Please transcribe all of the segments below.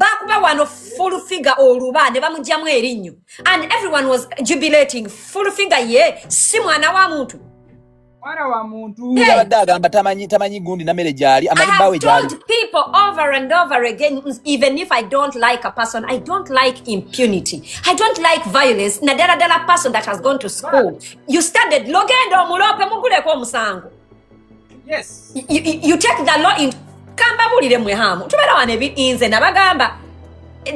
bakuba wano full figure oluba ne bamugyamu erinnyo and everyone was jubilating full figure ye si mwana wa muntu mwana wa muntu yabadde agamba tamanyi tamanyi gundi na mere gyali amanyi bawe gyali told people over and over again even if i don't like a person i don't like impunity i don't like violence na dala dala person that has gone to school you studied logendo mulope muguleko omusango Yes. You, you, you take the law in kamba bulire mwe hamu. Tubera wane bi inze na bagamba.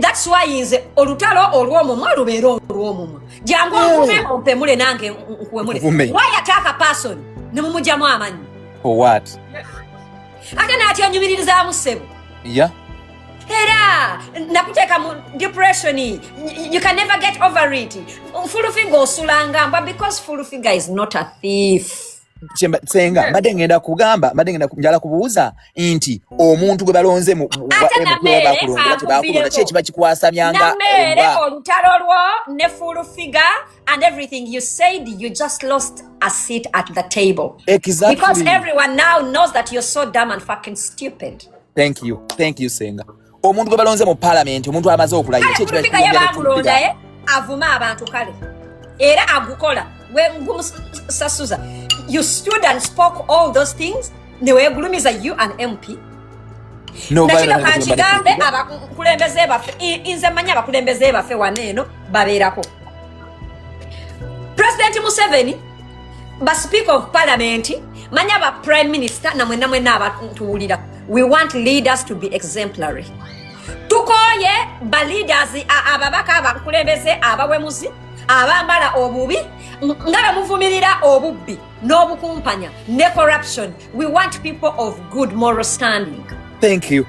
That's why inze olutalo olwo mumwa lubero olwo mumwa. Jangu mvume oh. ompe mule nange nkuwe mule. Mvume. Why attack a person? Ne mumuja mwa amanyi. For what? Yes. Ate na ati anyumiriza amusebo. Yeah. Hera, nakuteka mu depression. You can never get over it. Full finger osulanga, but because full finger is not a thief. senga mbadde ngenda kugamba mbadde ngenda njala kubuuza nti omuntu gwe balonze mubakulonda tebakulonda ki ekiba kikwasamyanga olutalo lwo ne full figure and everything you said you just lost a seat at the table exactly. because everyone now knows that you're so dumb and fucking stupid thank you thank you senga omuntu gwe balonze mu palamenti omuntu amaze okulayiraekibamulonda eh? avuma abantu kale era agukola gumusasuza you stood and spoke all those things newegulumiza you an mp nakino kankigambe abakulembeze baffe nze manyi abakulembeze baffe wano eno babeerako presidenti museveni ba speaker of parliament manya ba prime minister na mwena mwena abatuwulira we want leaders to be exemplary tukoye ba leaders ababaka abakulembeze abawemuzi abambala obubi nga bemuvumirira obubbi n'obukumpanya ne corruption we want people of good moral standing thank you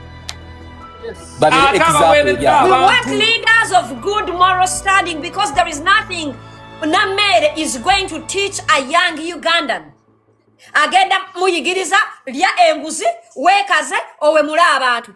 but ah, example, yeah. We want leaders of good moral standing because there is nothing Namere is going to teach a young Ugandan. Agenda muyigiriza lya enguzi wekaze owe mula abantu.